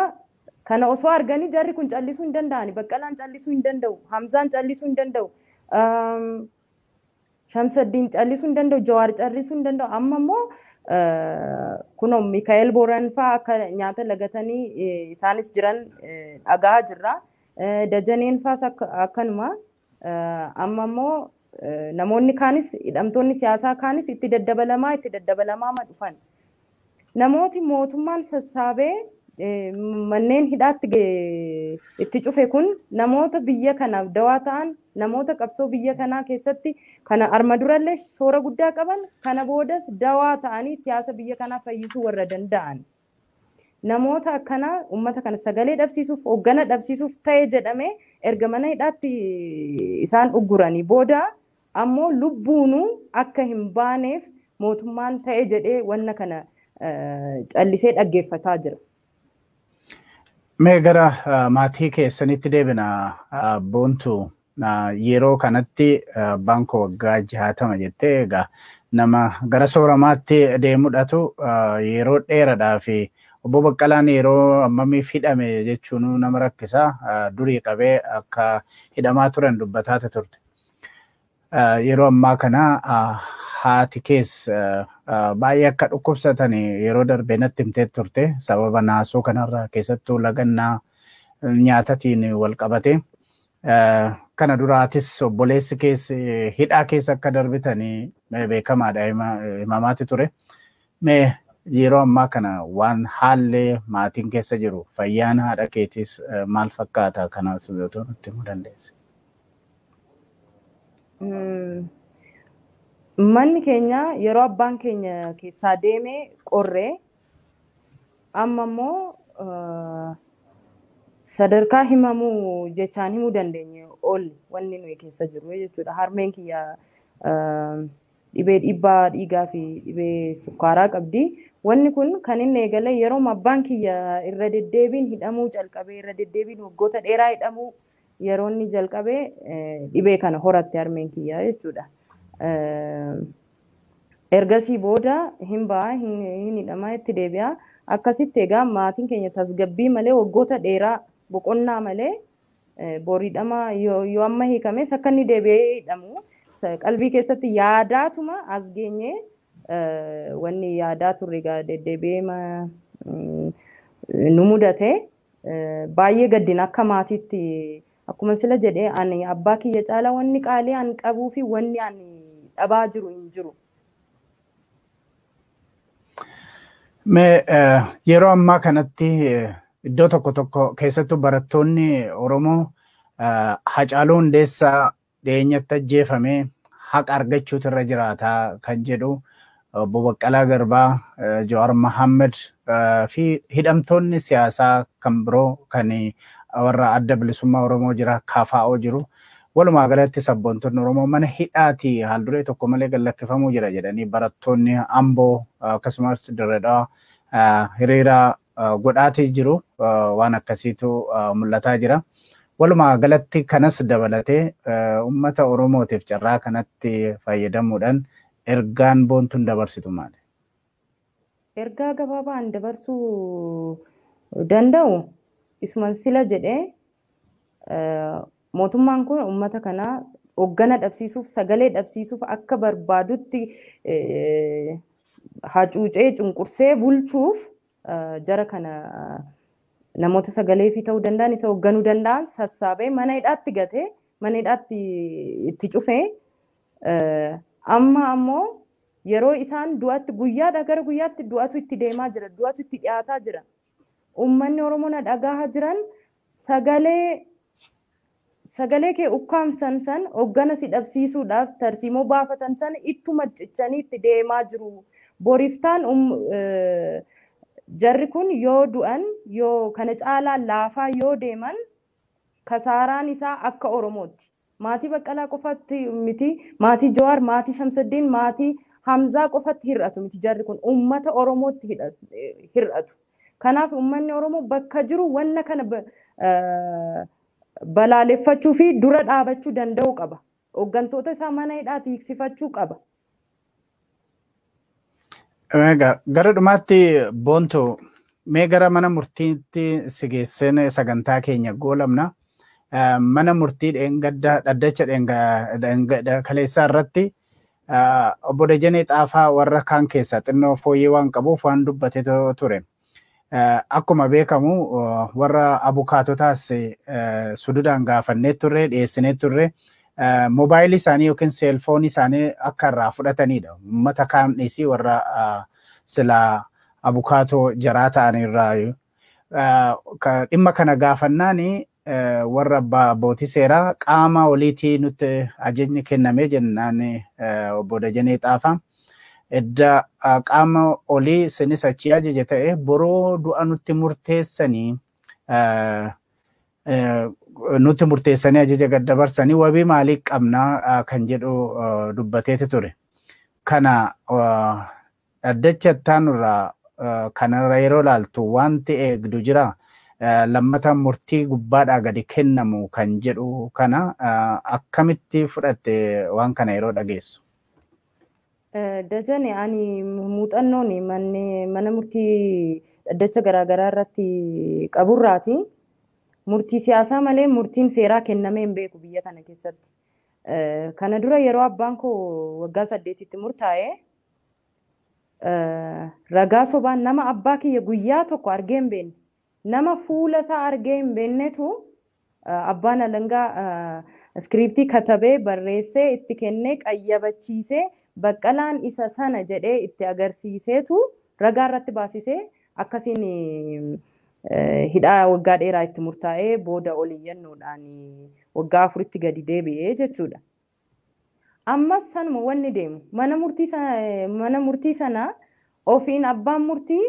kana osoo arganii jarri kun callisuu hin danda'ani. Baqqalaan callisuu hin danda'u. Hamzaan callisuu hin danda'u. Shamsaddiin callisuu hin danda'u, Jawaar callisuu hin danda'u. Amma immoo kunoo Mikaa'el Booran fa'aa akka nyaata lagatanii isaanis jiran dhagahaa jirra. Dajaneen fa'aas akkanuma. Amma immoo namoonni kaanis hidhamtoonni siyaasaa kaanis itti daddabalamaa itti daddabalamaa dhufan. Namooti mootummaan sassaabee manneen hidhaatti itti cufe kun namoota biyya kanaaf dawaa ta'an namoota qabsoo biyya kanaa keessatti kana arma durallee shoora guddaa qaban kana boodas dawaa ta'anii siyaasa biyya kanaa fayyisuu warra danda'an namoota akkanaa uummata kana sagalee dhabsiisuuf hoggana dhabsiisuuf ta'e jedhamee erga mana hidhaatti isaan ugguranii booda Ammoo lubbuunuu akka hin baaneef mootummaan ta'e jedhee wanna kana callisee dhaggeeffataa jira. Mee gara maatii keessanitti deebina boontu yeroo kanatti abbaan koo waggaa jaatama jettee egaa nama gara sooramaatti deemudhatu yeroo dheeradhaa fi obbo Baqqalaan yeroo ammamiif hidhame jechuun nama rakkisaa durii qabee akka hidhamaa turan dubbataate turte. Yeroo ammaa kana haati kees baay'ee akka dhukkubsatan yeroo darbe natti himtee turte sababa naasuu kanarraa keessattuu lagannaa nyaatatiin wal qabate. Kana duraatis obboleessi kees hidhaa keessa akka darbitan beekamaadha himamaati ture. Mee yeroo ammaa kana waan haalli maatiin keessa jiru fayyaan haadha keetiis eh, maal fakkaata kanas otoo nutti himuu dandeesse. Mm, Manni keenya yeroo abbaan keenya keessaa deeme qorre amma immoo eh, sadarkaa himamuu jechaan himuu dandeenye ol wanni nuyi keessa jiru jechuudha. Harmeen kiyya eh, Dhibee dhiibbaa dhiigaa fi dhibee sukkaaraa qabdi. Wanni kun kan inni eegale yerooma abbaan kiyya irra deddeebiin hidhamuu calqabe, irra deddeebiin waggoota dheeraa hidhamuu yeroo inni jalqabe dhibee kana horatte harmeen kiyya jechuudha. Ergasii booda hin ba'a, hin hidhama, itti deebi'a. Akkasitti egaa maatiin keenya tasgabbii malee waggoota dheeraa boqonnaa malee Booridhama yoo amma hiikames akka inni deebi'ee hidhamu qalbii keessatti yaadaatuma as geenye wanni yaadaa turre egaa deddeebi'ee nu mudate baay'ee gaddina akka maatiitti akkuma sila jedhee ani abbaa kiyya caala wanni qaalii an qabuu fi wanni ani dhabaa jiru hin jiru. Mee yeroo ammaa kanatti iddoo tokko tokko keessattuu barattoonni Oromoo Hacaaluu Hundeessaa dhiyeenyatti ajjeefame haqa argachuutu irra jiraata kan jedhu obbo Baqqalaa Garbaa, Jawaar Mohaammed fi hidhamtoonni siyaasaa kan biroo kan warra adda bilisummaa Oromoo jira, KFO jiru. Walumaa galatti sabboontonni Oromoo mana hidhaatii haalduree tokko malee gad lakkifamuu jira jedhanii barattoonni Amboo akkasumas Dirree Dhawaa hiriira godhaatii jiru. Waan akkasiitu mul'ataa jira. Walumaa galatti kanas dabalatee uummata Oromootiif carraa kanatti fayyadamuudhaan ergaan boontuun dabarsitu maali? Ergaa gabaabaa an dabarsuu danda'u isuman sila jedhe mootummaan kun uummata kana hoggana dhabsiisuuf sagalee dhabsiisuuf akka barbaadutti hacuucee cunqursee bulchuuf jara kana namoota sagalee fi ta'uu danda'an isa hoogganuu danda'an sassaabee mana hidhaatti gate mana hidhaatti itti cufee amma ammoo Yeroo isaan du'atti guyyaadhaa gara guyyaatti du'atu itti deemaa jira, du'atu itti dhiyaataa jira. Uummanni Oromoo na dhagaaha jiran sagalee sagalee kee ukkaamsan san hoggana si dhabsiisuudhaaf tarsiimoo baafatan san ittuma cichanii itti deemaa jiru. Boriftaan um, jarri kun yoo du'an yoo kana caalaa laafaa yoo deeman kasaaraan isaa akka Oromootti. Maatii Baqqalaa qofatti miti, maatii Jawaar, maatii Shamsaddiin, maatii Hamzaa qofatti hir'atu miti jarri kun uummata Oromootti hir'atu. Kanaaf uummanni Oromoo bakka jiru wanna kana balaaleffachuu fi dura dhaabachuu danda'uu qaba. Hooggantoota isaa mana hidhaati hiiksifachuu qaba. Egaa gara dhumaatti boontu mee gara mana murtiitti si geesseen sagantaa keenya goolabna. Eh, Mana murtii dheengadda dhaddacha dheenga- dheenga- kaleessaa irratti eh, obbo Dajanee Xaafaa warra kaan keessaa xinnoo fooyyee waan qabuuf waan dubbatetu ture. Akkuma beekamu warra abukaatotaas sududaan gaafannee turre dhiyeessinee turre moobaayilii isaanii yookiin seelfoonii isaanii akka irraa fudhatanidha. Uummata kaan dhiisii warra silaa abukaatoo jaraa ta'an irraa dhimma kana gaafannaan warra abbootii seeraa qaama oliitii nutti ajajni kenname jennaan obbo Dajanee Xaafaa. Edda qaama olii isinis achii ajaje ta'e boroo du'a nutti murteessanii nutti murteessanii ajaja gad dabarsanii wabii maalii qabnaa kan jedhu dubbateeti ture. Kana Dhaddacha ittaanu irraa kanarra yeroo ilaaltu wanti eegdu jira? Lammata murtii gubbaadhaa gadi kennamu kan jedhu kana akkamitti fudhatte waan kana yeroo dhageessu? Dajane, Ani muuxannoon mana murtii dhaddacha garaagaraa irratti qaburraati. Murtii siyaasaa malee murtiin seeraa kennamee hin beeku biyya kana keessatti. Kana dura yeroo abbaan koo waggaa saddeetitti murtaa'e Ragaa sobaan nama abbaa kiyya guyyaa tokko argee hin beekne nama fuula isaa argee hin beeknetu abbaan alangaa iskiriiptii katabee barreessee itti kennee qayyabachiisee baqqalaan isa sana jedhee itti agarsiiseetu ragaa irratti baasisee akkasiin hidhaa waggaa dheeraa itti murtaa'ee booda ol iyyannoodhaan waggaa afuritti gadi deebi'ee jechuudha. Ammas sanuma wanni deemu. Mana murtii sa- eh, mana murtii sana ofiin abbaan murtii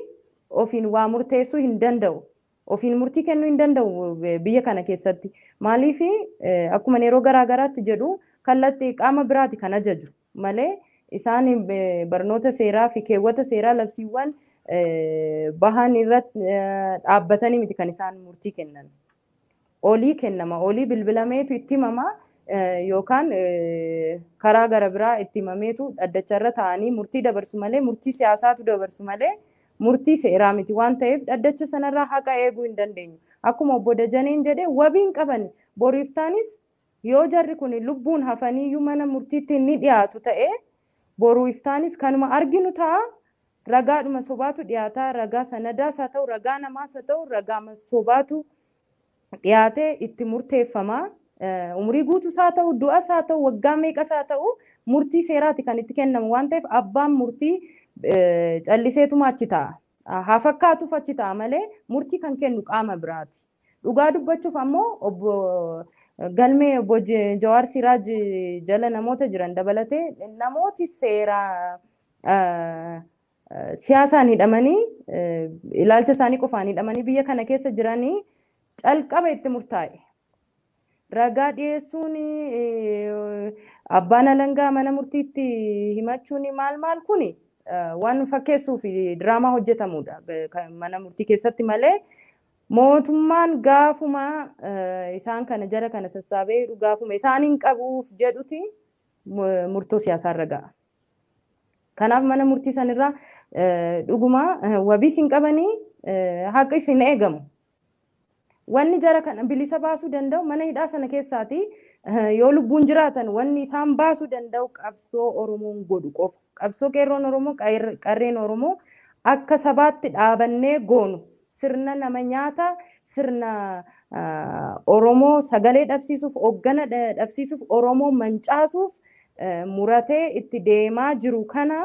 ofiin waa murteessuu hin danda'u. Ofiin murtii kennuu hin danda'u eh, biyya kana keessatti. Maaliif eh, akkuma yeroo garaa garaatti jedhu kallatti qaama biraati kan ajaju malee isaan eh, barnoota seeraa fi keewwata seeraa labsiiwwan eh, bahan irratti eh, dhaabbatanii miti kan isaan murtii kennan. olii kennama. Olii bilbilameetu itti himama yookaan karaa gara biraa itti himameetu dhaddacha irra taa'anii murtii dabarsu malee murtii siyaasaatu dabarsu malee murtii seeraa miti waan ta'eef dhaddacha sanarraa haqa eeguu hin dandeenyu. Akkuma obbo Dajaneen jedhe wabiin qabani boriiftaanis Yoo jarri kun lubbuun hafaniiyyuu mana murtiitti ni dhiyaatu ta'e, boru iftaanis kanuma arginu ta'a. Ragaadhuma sobaatu dhiyaata. Ragaa sanadaas haa ta'u, ragaa namaas haa ta'u, ragaama sobaatu dhiyaatee itti murteeffama. Umurii guutuus haa ta'u, du'as haa ta'u, waggaa meeqas haa ta'u, murtii seeraati kan itti kennamu waan ta'eef abbaan murtii calliseetuma achi taa'a. Haa fakkaatuuf achi taa'a malee murtii kan kennu qaama biraati. Dhugaa dubbachuuf ammoo obbo galmee obbo J- Jawaar Siraaj jala namoota jiran dabalatee namooti seera ah, ah, siyaasaan hidhamanii eh, ilaalcha isaanii qofaan hidhamanii biyya kana keessa jiranii calqaba itti murtaa'e. ragaa dhiyeessuun eh, abbaan alangaa mana murtiitti himachuun maal maal kun waan fakkeessuu fi diraamaa hojjetamudha Ga- kan mana murtii keessatti malee Mootummaan gaafuma isaan kana jara kana sassaabee hidhu gaafuma isaan hin qabuuf jedhuti murtoo siyaasaa irra ga'a. Kanaaf mana murtii sanirraa dhuguma wabiis hin qabanii haqis hin eegamu. Wanni jara kana bilisa baasuu danda'u mana hidhaa sana keessaati yoo lubbuun jiraatan wanni isaan baasuu danda'u qabsoo Oromoon godhu qofa. Qabsoo Qeerroon Oromoo, Qarreen Oromoo akka sabaatti dhaabannee goonu sirna nama nyaata, sirna Oromoo sagalee dhabsiisuuf, hoggana dhabsiisuuf, Oromoo mancaasuuf muratee itti deemaa jiru kana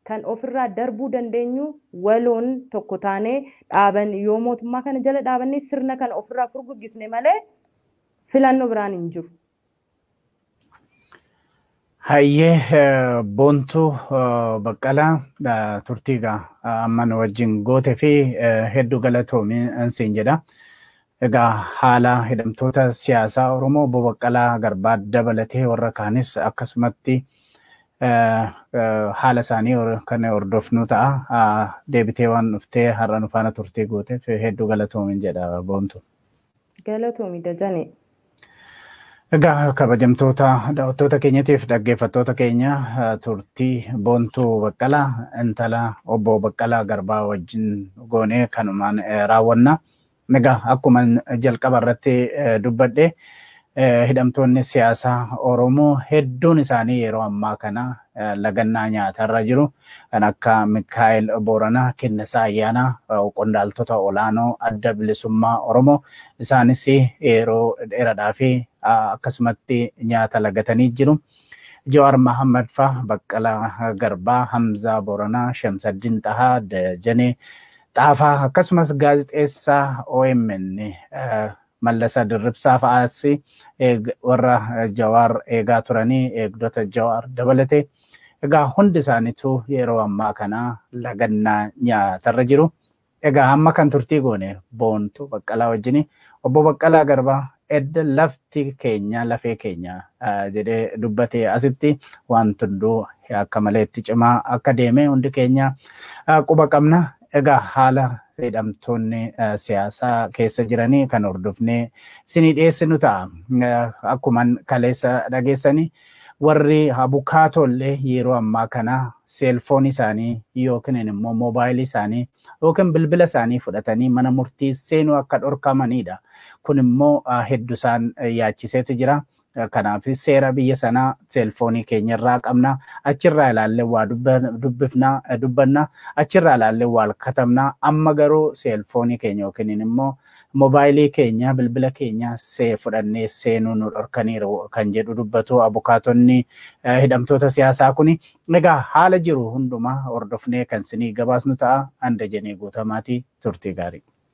kan ofirraa darbuu dandeenyu waloon tokko taanee dhaaban yoo mootummaa kana jala dhaabannee sirna kana ofirraa furguggisne malee filannoo biraan hin jiru. Hayyee eh, Boontuu eh, Baqqalaa eh, turtii egaa eh, amma nu wajjin goote fi eh, hedduu galatoomi eh, siin jedha. Egaa haala hidhamtoota siyaasaa Oromoo Obbo Baqqalaa Garbaa dabalatee warra kaanis akkasumatti eh, eh, haala isaanii hor- kan hordofnu ta'a. Ah, Deebitee waan dhuftee har'a nu faana turtii gooteef hedduu galatoomi jedha Boontuu. Galatoomi Dajanee. Egaa kabajamtoota daawwattoota keenyatiif dhaggeeffattoota keenya turtii Boontuu Baqqalaa intala obbo Baqqalaa Garbaa wajjin goonee kanumaan raawwanna. Egaa akkuma jalqaba irratti dubbadhe Hidhamtoonni siyaasaa Oromoo hedduun isaanii yeroo ammaa kana lagannaa nyaatarra jiru. Kan akka Mikkaa'el Booranaa, Kennesaa Ayyaanaa, qondaaltota olaanoo Adda Bilisummaa Oromoo isaanis yeroo dheeradhaaf akkasumatti nyaata lagatanii jiru. Jawaar Mahaammad faa, Baqqalaa Garbaa, Hamzaa Booranaa, Shamsaddin Xahaa, Dajanee Xaafaa akkasumas gaazexeessaa omn Mallasa Dirribsaa fa'aas warra Jawaar eegaa turanii eegdota Jawaar dabalatee egaa hundi isaaniitu yeroo ammaa kana lagannaa nyaatarra jiru. Egaa amma kan turtii goone boontu baqqalaa wajjini obbo Baqqalaa Garbaa edda lafti keenya lafee keenya jedhee dubbatee asitti waan hunduu akka maleetti cimaa akka deeme hundi keenya quba qabna. Egaa haala hidhamtoonni siyaasaa keessa jiranii kan hordofnee isinii dhiyeessinu ta'a. Akkuman kaleessa dhageessanii warri abukaatoollee yeroo ammaa kana seelfoon isaanii yookiin immoo moobaayilii isaanii yookiin bilbila isaanii fudhatanii mana murtii seenuu akka dhorkamanidha. Kun immoo heddu isaan yaachiseeti jira. Kanaafis seera biyya sanaa seelfoonii keenya irraa qabna. Achirraa ilaallee waa dubbifna, dubbanna. Achirraa ilaallee waal katabna. Amma garuu seelfoonii keenya yookiin immoo mobaayilii keenya, bilbila keenya see fudhannee seenuu nu dhorkaniiru kan jedhu dubbatu abukaatonni hidhamtoota siyaasaa kuni. Egaa haala jiru hundumaa hordofnee kan sinii gabaasnu ta'a. Anda jenee guutamaati turtii gaarii.